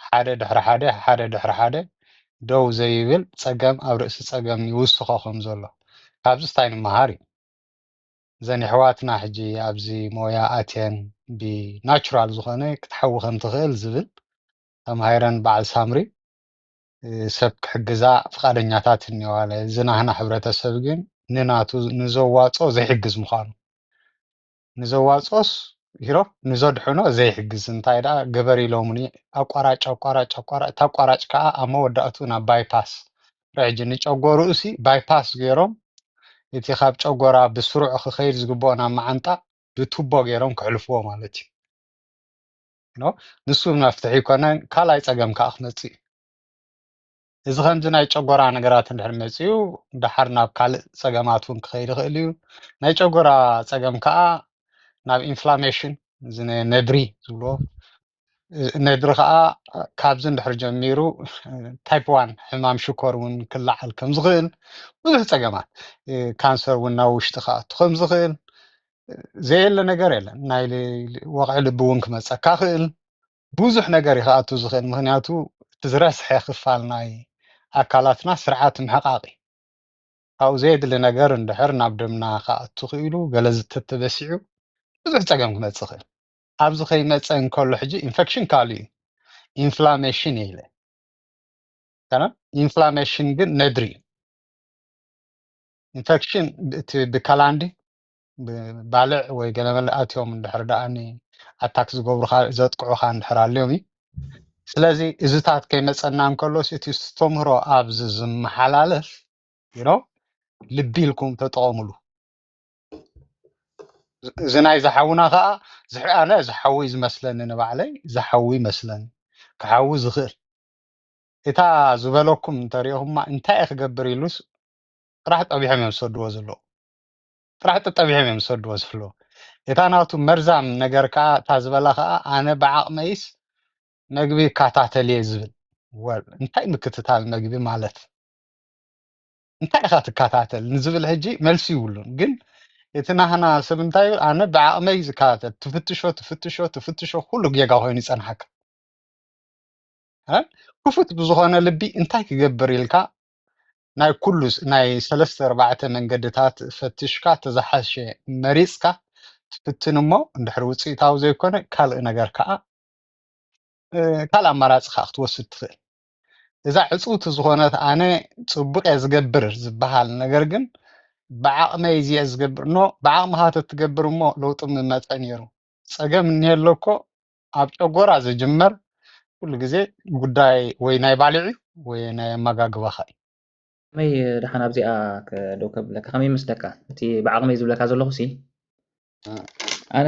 ሓደ ድሕሪ ሓደ ሓደ ድሕሪ ሓደ ደው ዘይብል ጸገም ኣብ ርእሲ ጸገም ይውስኾ ከም ዘሎ ካብዚስ ታይ ንመሃር እዩ እዘን የሕዋትና ሕጂ ኣብዚ ሞያ ኣትየን ብ ናቹራል ዝኾነ ክትሓዊ ከም ትኽእል ዝብል ተማሂረን በዓል ሳምሪ ሰብ ክሕግዛ ፍቃደኛታት እንየዋለ እዚ ናህና ሕብረተሰብ ግን ንናቱ ንዘዋጾ ዘይሕግዝ ምዃኑ ንዘዋጽኦስ ኢሮብ ንዘድሕኖ ዘይሕግዝ እንታይ ደኣ ግበር ኢሎሙኒ ኣቋራጭ ኣቋራጭ ኣቋራጭ እታ ኣቋራጭ ከኣ ኣብ መወዳእትኡ ናብ ባይ ፓስ ሕጂ ንጨጎርኡሲ ባይ ፓስ ጌሮም እቲ ካብ ጨጎራ ብስሩዕ ክኸይድ ዝግብኦ ናብ መዓንጣ ብቱቦ ጌሮም ከሕልፍዎ ማለት እዩ ኖ ንሱ መፍትሒ ይኮነን ካልኣይ ጸገም ከኣ ክመጽእ እዩ እዚ ከምዚ ናይ ጨጎራ ነገራት እንድሕር መጺኡ ደሓር ናብ ካልእ ጸገማት ውን ክኸይድ ይኽእል እዩ። ናይ ጨጎራ ጸገም ከኣ ናብ ኢንፍላሜሽን እዚ ነ- ነድሪ ዝብልዎ እዚ ነድሪ ከኣ ካብዚ እንድሕር ጀሚሩ ታይፕ ዋን ሕማም ሽኮር ውን ክለዓል ከም ዝኽእል ብዙሕ ጸገማት እ፣ ካንሰር ውን ናብ ውሽጢ ክኣቱ ከም ዝኽእል ዘየለ ነገር የለን። ናይ ል- ወቕዒ ልቢ ውን ክመጸካ ክእል ብዙሕ ነገር እዩ ክኣቱ ዝኽእል ምኽንያቱ እቲ ዝረስሐ ክፋል ናይ ኣካላትና ስርዓት ምሕቓቕ እዩ። ካብኡ ዘየድሊ ነገር እንድሕር ናብ ደምና ክኣቱ ኽኢሉ ገለ ዝተተበሲዑ ብዙሕ ፀገም ክመፅእ ይኽእል። ኣብዚ ከይመፀ እንከሎ ሕጂ ኢንፈክሽን ካልእ እዩ ኢንፍላሜሽን እየ ኢለ ኣይኮነን ኢንፍላሜሽን ግን ነድሪ እዩ ኢንፈክሽን እቲ ብከላንዲ ባልዕ ወይ ገለመለ ኣትዮም እንድሕር ደኣ ኣታክ ዝገብሩካ ዘጥቅዑካ እንድሕር ኣልዮም እዩ ስለዚ እዚታት ከይመፀና እንከሎስ እቲ ዝተምህሮ ኣብዚ ዝመሓላለፍ ይኖ ልቢ ኢልኩም ተጠቐሙሉ እዚ ናይ ዝሓውና ከዓ ኣነ ዝሓዊ ዝመስለኒ ንባዕለይ ዝሓዊ ይመስለኒ ክሓዊ ዝኽእል እታ ዝበለኩም እንተሪኦኹማ እንታይ ክገብር ኢሉስ ጥራሕ ጠቢሖም እዮም ዝሰድዎ ዘለዉ ጥራሕ ጠጠቢዖም እዮም ዝሰድዎ ዝፍለዉ እታ ናቱ መርዛም ነገር ከኣ እታ ዝበላ ከኣ ኣነ ብዓቕመይስ መግቢ ይከታተል እየ ዝብል ወል እንታይ ምክትታል መግቢ ማለት እንታይ ኢኻ ትከታተል ንዝብል ሕጂ መልሲ ይብሉን ግን እቲ ናህና ሰብ እንታይ ይብል ኣነ ብዓቕመይ ዝከታተል ትፍትሾ ትፍትሾ ትፍትሾ ኩሉ ጌጋ ኮይኑ ይጸንሓካ እ? ክፉት ብዝኾነ ልቢ እንታይ ክገብር ኢልካ ናይ ኩሉ ናይ ሰለስተ ኣርባዕተ መንገድታት ፈትሽካ እቲ ዝሓሸ መሪጽካ ትፍትን እሞ እንድሕር ውጽኢታዊ ዘይኮነ ካልእ ነገር ከኣ ካልእ ኣማራጺ ከኣ ክትወስድ ትኽእል እዛ ዕጽውቲ ዝኾነት ኣነ ጽቡቅ እየ ዝገብር ዝበሃል ነገር ግን ብዓቕመይ እዚ እየ ዝገብር ኖ ብዓቕምኻ ተትገብር እሞ ለውጢ ምመጸ ነይሩ ጸገም እኒሀ ኣሎ እኮ ኣብ ጨጎራ ዝጅመር ኩሉ ግዜ ጉዳይ ወይ ናይ ባልዕ እዩ ወይ ናይ ኣመጋግባኻ እዩ። ከመይ ደሓን ኣብዚኣ ደው ከብለካ ከመይ ይመስለካ እቲ ብዓቕመይ ዝብለካ ዘለኹ ሲ ኣነ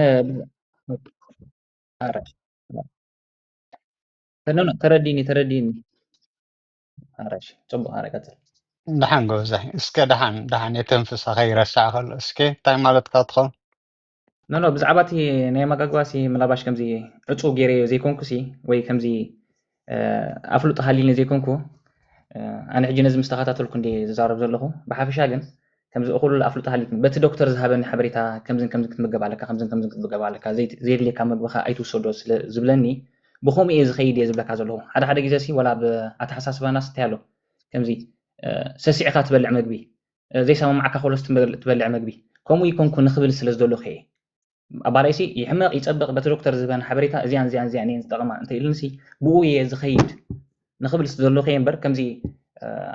ተረዲኒ ተረዲኒ ኣራሽ ጽቡቕ ኣረ ቀጽል ደሓን ጎበዛይ እስከ ደሓን ደሓን የተንፍሳ ከይረሳዕ ከሎ እስከ እንታይ ማለትካ ትኸውን ኖኖ ብዛዕባ እቲ ናይ ኣመጋግባ ሲ ምናባሽ ከምዚ ዕፁ ገይረዮ ዘይኮንኩ ሲ ወይ ከምዚ ኣፍልጦ ሃሊኒ ዘይኮንኩ ኣነ ሕጂ ነዚ ምስ ተኸታተልኩ እንዲ ዝዛረብ ዘለኹ ብሓፈሻ ግን ከምዚ እኹል ኣፍልጦ ሃሊኒ በቲ ዶክተር ዝሃበኒ ሓበሬታ ከምዝን ከምዚ ክትምገብ ኣለካ ከምዝን ከምዚ ክትምገብ ኣለካ ዘየድልየካ መግብኻ ኣይትውሰዶ ስለ ዝብለኒ ብከምኡ እየ ዝኸይድ እየ ዝብለካ ዘለኹ ሓደ ሓደ ግዜ ሲ ወላ ብ ኣተሓሳስባናስ እንታይ ኣሎ ከምዚ ሰሲዕካ ትበልዕ መግቢ ዘይሰማማዓካ ኮሎስ ትበልዕ መግቢ ከምኡ ይኮንኩ ንክብል ስለ ዝደለኩ እየ ኣባለይሲ ይሕመቅ ይጸብቅ በቲ ዶክተር ዝህበን ሓበሬታ እዚኣን እዚኣን እዚኣን እየን ዝጠቅማ እንተ ኢሉንሲ ብኡ እየ ዝከይድ ንክብል ስለ ዝደለኩ እየ እምበር ከምዚ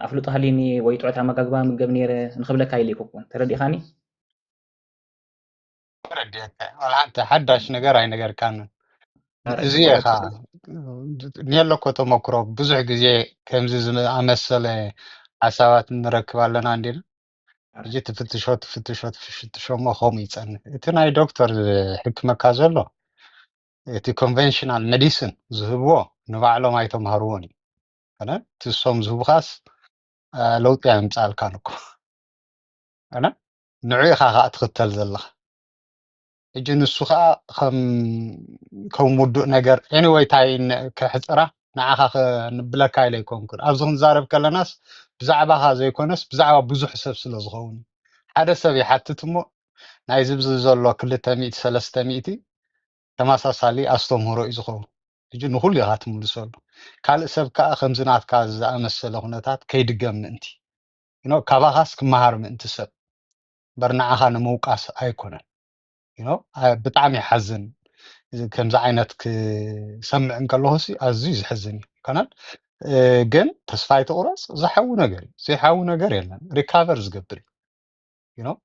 ኣፍልጦ ሃልዩኒ ወይ ጥዑት ኣመጋግባ ምገብ ነይረ ንክብለካ ኢለ ኣይኮንኩን ተረዲእካኒ ተረዲኣካ እየ ዋላ ሓንቲ ሓዳሽ ነገር ኣይነገርካንን ኧረ እዚ ኢኻ ወረቀት ኔሎ እኮ ተመክሮ ብዙሕ ግዜ ከምዚ ዝኣመሰለ ሓሳባት ንረክብ ኣለና እንዲና ኧረ ሕጂ ትፍትሾ ትፍትሾ ትፍትሾ እሞ ከምኡ ይጸንሕ እቲ ናይ ዶክተር ዝሕክመካ ዘሎ እቲ ኮንቨንሽናል ሜዲሲን ዝህብዎ ንባዕሎም ኣይተምሃርዎን እዩ ኣነ እቲ እሶም ዝህቡኻስ አ፣ ለውጢ ኣየምጽኣልካን እኮ ኣነ ንዑ ኢኻ ከኣ ትኽተል ዘለኻ ሕጂ ንሱ ከኣ ከም ከም ውዱእ ነገር ኤኒወይ ታይ ን- ከሕጽራ ንዓኻ ከንብለካ ኢለ ኣይኮንኩን ኣብዚ ክንዛረብ ከለናስ ብዛዕባኻ ዘይኮነስ ብዛዕባ ብዙሕ ሰብ ስለ ዝኸውን እዩ ሓደ ሰብ ይሓትት እሞ ናይዚ ብዚ ዘሎ ክልተ ሚእቲ ሰለስተ ሚእቲ ተመሳሳሊ ኣስተምህሮ እዩ ዝኸውን ሕጂ ንኹሉ ኢኻ ትምልሰሉ ካልእ ሰብ ከኣ ከምዚ ናትካ ዝኣመሰለ ኩነታት ከይድገም ምእንቲ ዩኖው ካባኻስ ክመሃር ምእንቲ ሰብ እምበር ንዓኻ ንምውቃስ ኣይኮነን ዩኖው ኣይ ብጣዕሚ ይሓዝን እዚ ከምዚ ዓይነት ክሰምዕ እንከለኹ ሲ ኣዝዩ ዝሕዝን እዩ ኣይኮነን እ፣ ግን ተስፋ ኣይትቑረፅ ዝሓዊ ነገር እዩ ዘይሓዊ ነገር የለን ሪካቨር ዝገብር እዩ ዩኖው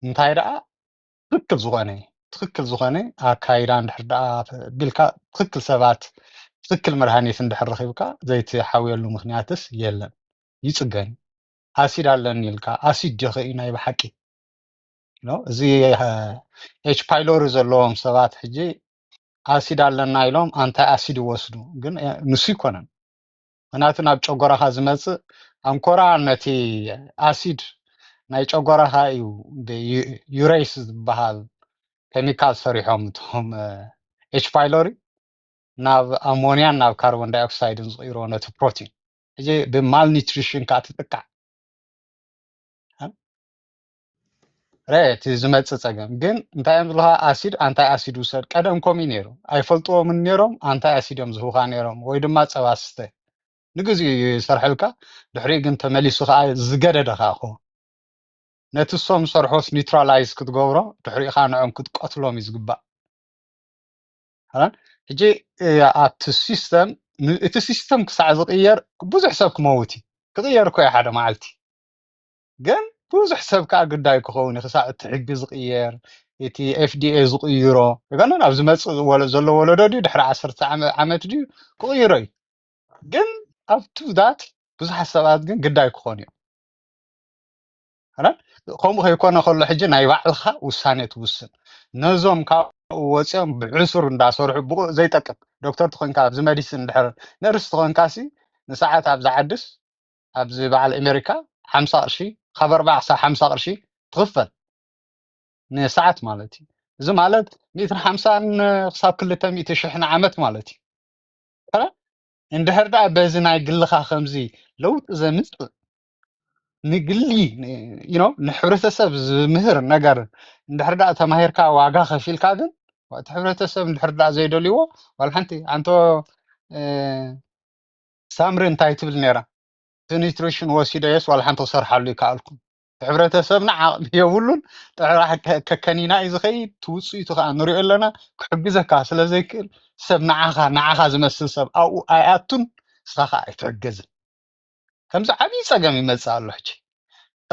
እንታይ ደኣ ትክክል ዝኾነ ትክክል ዝኾነ ኣካይዳ እንድሕር ደኣ ቢልካ ትክክል ሰባት ትክክል መድሃኒት እንድሕር ረኺብካ ዘይትሓውየሉ ምክንያትስ የለን ይጽገን ኣሲድ ኣለኒ ኢልካ ኣሲድ ዲኺ እዩ ናይ ብሓቂ ኖ እዚ ኤች ፓይሎሪ ዘለዎም ሰባት ሕጂ ኣሲድ ኣለና ኢሎም ኣንታይ ኣሲድ ይወስዱ ግን እ፣ ንሱ ይኮነን ምክንያቱ ናብ ጨጎራኻ ዝመጽእ ኣንኮራ ነቲ ኣሲድ ናይ ጨጎራኻ እዩ ብዩሬስ ዝበሃል ኬሚካል ሰሪሖም እቶም ኤች ፓይሎሪ ናብ ኣሞንያን ናብ ካርቦን ዳይኦክሳይድን ዝቕይሮ ነቲ ፕሮቲን ሕጂ ብማል ኒትሪሽን ከዓ ትጥቃዕ ረ እቲ ዝመፅእ ፀገም ግን እንታይ እዮም ዝብልካ ኣሲድ ኣንታይ ኣሲድ ውሰድ ቀደም ከምኡ እዩ ነይሩ ኣይፈልጥዎምን ነይሮም ኣንታይ ኣሲድ እዮም ዝህቡካ ነይሮም ወይ ድማ ፀባ ስተ ንግዚኡ እዩ ይሰርሐልካ ድሕሪ ግን ተመሊሱ ከዓ ዝገደደ ከዓ ይኸውን ነቲ ሶም ዝሰርሖስ ኒውትራላይዝ ክትገብሮ ድሕሪኡ ከዓ ንዕኦም ክትቀትሎም እዩ ዝግባእ ሕጂ ኣብቲ ሲስተም እቲ ሲስተም ክሳዕ ዝቕየር ብዙሕ ሰብ ክመውት እዩ ክቕየር እኮ እዩ ሓደ መዓልቲ ግን ብዙሕ ሰብ ከዓ ግዳይ ክኸውን እዩ ክሳዕ እቲ ሕጊ ዝቕየር እቲ ኤፍዲኤ ዝቕይሮ ገና ናብ ዝመፅእ ወለ- ዘሎ ወለዶ ድዩ ድሕሪ ዓሰርተ ዓመ- ዓመት ድዩ ክቕይሮ እዩ ግን ኣብቱ ዳት ብዙሓት ሰባት ግን ግዳይ ክኾኑ እዮም ኣይኮነን ከምኡ ከይኮነ ከሎ ሕጂ ናይ ባዕልካ ውሳኔ ትውስን ነዞም ካብኡ ወፂኦም ብዕሱር እንዳሰርሑ ብኡ ዘይጠቅም ዶክተር ተኮንካ ኣብዚ መዲሲን ድሕር ነርስ ተኮንካ ሲ ንሰዓት ኣብዚ ዓድስ ኣብዚ በዓል ኣሜሪካ ሓምሳ ቅርሺ ካብ ኣርባ ክሳብ ሓምሳ ቅርሺ ትኽፈል ንሰዓት ማለት እዩ እዚ ማለት ሚእትን ሓምሳን ክሳብ ክልተ ሚእቲ ሽሕ ንዓመት ማለት እዩ እንድሕር ደኣ በዚ ናይ ግልኻ ከምዚ ለውጢ ዘምፅእ ንግሊ ዩ ኖው ንሕብረተሰብ ዝምህር ነገር እንድሕር ዳኣ ተማሂርካ ዋጋ ከፊልካ ግን እቲ ሕብረተሰብ እንድሕር ዳኣ ዘይደልይዎ ዋላ ሓንቲ ኣንቶ እ፣ ሳምሪ እንታይ ትብል ነይራ እቲ ኒትሪሽን ወሲደዮስ ዋላ ሓንቲ ክሰርሓሉ ይከኣልኩም እቲ ሕብረተሰብና ዓቕሚ የብሉን ጥራሕ ከ- ከከኒና እዩ ዝኸይድ እቲ ውፅኢቱ ከዓ ንሪኦ ኣለና ክሕግዘካ ስለ ዘይክእል ሰብ ንዓኻ ንዓኻ ዝመስል ሰብ ኣብኡ ኣይኣቱን ንስኻ ከዓ ኣይትሕገዝን ከምዚ ዓብዪ ፀገም ይመፅእ ኣሎ ሕጂ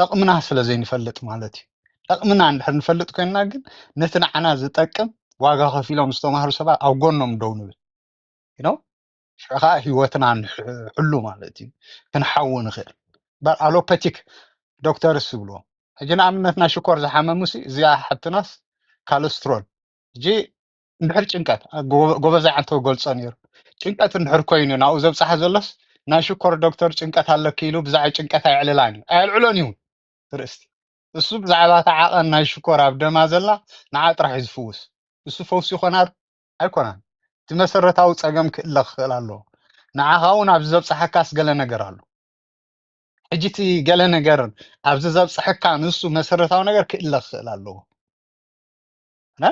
ጠቕምና ስለ ዘይንፈልጥ ማለት እዩ ጠቕምና እንድሕር ንፈልጥ ኮይንና ግን ነቲ ንዓና ዝጠቅም ዋጋ ከፊሎም ዝተማህሩ ሰባት ኣብ ጎኖም ደው ንብል you know? ሽዑ ከዓ ህይወትና ንሕሉ ማለት እዩ ክንሓዊ ንኽእል በር ኣሎፐቲክ ዶክተርስ ዝብልዎ ሕጂ ንኣብነት ናይ ሽኮር ዝሓመሙሲ እዚኣ ሓትናስ ካለስትሮል ሕጂ እንድሕር ጭንቀት ኣ- ጎ- ጎበዛይ ዓንተ ገልጾ ነይሩ ጭንቀት እንድሕር ኮይኑ ናብኡ ዘብጽሓ ዘሎስ ናይ ሽኮር ዶክተር ጭንቀት ኣለኪ ኢሉ ብዛዕባ ጭንቀት ኣየዕልላን እዩ ኣየልዕሎን እዩ ርእስቲ እሱ ብዛዕባ እታ ዓቐን ናይ ሽኮር ኣብ ደማ ዘላ ንዓ ጥራሕ እዩ ዝፍውስ እሱ ፈውሲ ይኾና ዶ? ኣይኮናን እቲ መሰረታዊ ጸገም ክእለ ክኽእል ኣለዎ ንዓኻ እውን ኣብዚ ዘብጽሓካስ ገለ ነገር ኣሎ ሕጂ እቲ ገለ ነገር ኣብዚ ዘብጽሐካ ንሱ መሰረታዊ ነገር ክእለ ክኽእል ኣለዎ እና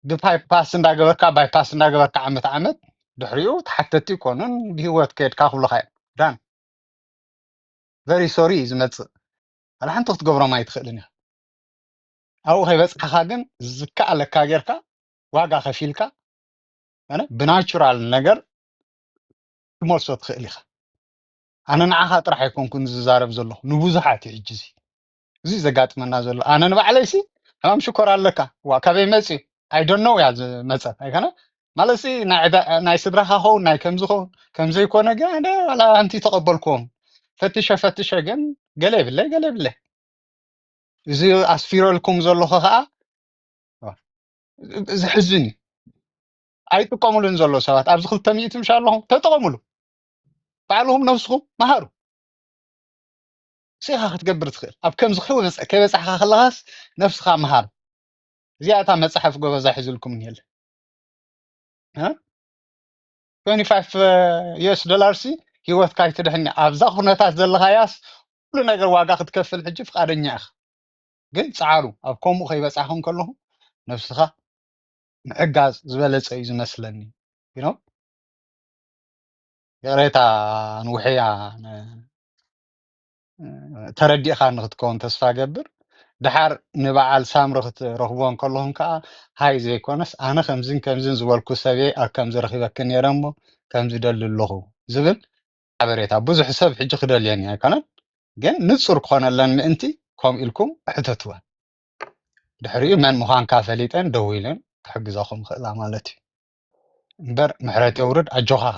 ብባይፓስ እንዳገበርካ ባይፓስ እንዳገበርካ ዓመት ዓመት ድሕሪኡ ተሓተቲ ይኮኑን ብሂወት ከድካ ክብሉካ እዮም ዳን ቨሪ ሶሪ እዩ ዝመፅእ ዋላ ሓንቲ ክትገብሮም ኣይትኽእልን ኢኻ ኣብኡ ከይበፅሓኻ ግን ዝከኣለካ ጌርካ ዋጋ ከፊልካ ኣነ ብናቹራል ነገር ክመልሶ ትኽእል ኢኻ ኣነ ንዓኻ ጥራሕ ኣይኮንኩን ዝዛረብ ዘለኹ ንብዙሓት እዩ ሕጂ እዚ እዚ ዘጋጥመና ዘሎ ኣነ ንባዕለይሲ ሕማም ሽኮር ኣለካ ዋ ካበይ መፅዩ ኣይደኖ እያ ዝመፀት ኣይኮነ ማለት ሲ ናይ ዕዳ- ናይ ስድራካ ኸውን ናይ ከምዚ ኸውን ከምዘይኮነ ግን ኣነ ዋላ ኣንቲ ተቀበልክዎም ፈትሸ ፈትሸ ግን ገለ የብለይ ገለ የብለይ እዚ ኣስፊረልኩም ዘለኹ ከዓ ዘሕዝን እዩ ኣይጥቀሙሉን ዘሎ ሰባት ኣብዚ ክልተ ሚእቲ ምሻ ኣለኹም ተጠቀሙሉ ባዕልኹም ነብስኹም መሃሩ ንሱ ኢኻ ክትገብር ትኽእል ኣብ ከምዚ ከይበጽ ከይበጻሕካ ከለኻስ ነብስኻ ምሃር እዚኣ እታ መጽሓፍ ጎበዛ ሒዝልኩም እኒሀለ እ 25 ዩኤስ ዶላር ሲ ሂወትካ ኣይትድሕን እያ። ኣብዛ ኩነታት ዘለኻያስ ኩሉ ነገር ዋጋ ክትከፍል ሕጂ ፍቃደኛ ኢኻ ግን ጻዓሩ ኣብ ከምኡ ከይበጻሕኩም ከለኹም ነብስኻ ምሕጋዝ ዝበለጸ እዩ ዝመስለኒ you know ይቕሬታ ንውሕያ ን- ተረዲእኻ ንክትከውን ተስፋ ገብር ድሓር ንበዓል ሳምሪ ክትረኽቦ እንከለኹም ከዓ ሃይ ዘይኮነስ ኣነ ከምዝን ከምዝን ዝበልኩ ሰብየ ኣብ ከምዚ ረኺበኪ ነይረ እሞ ከምዚ ደሊ ኣለኹ ዝብል ሓበሬታ ብዙሕ ሰብ ሕጂ ክደልየኒ ኣይኮነን ግን ንጹር ክኾነለን ምእንቲ ከምኡ ኢልኩም ሕተትወን ድሕሪኡ መን ምዃንካ ፈሊጠን ደው ኢለን ክሕግዛኹም ይኽእላ ማለት እዩ እምበር ምሕረት የውርድ ኣጆኻኻ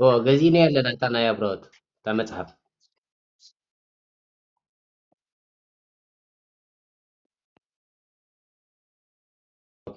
እዎ ገዚእና ኣለና እታ ናይ ኣብረወት እታ መፅሓፍ ኦኬ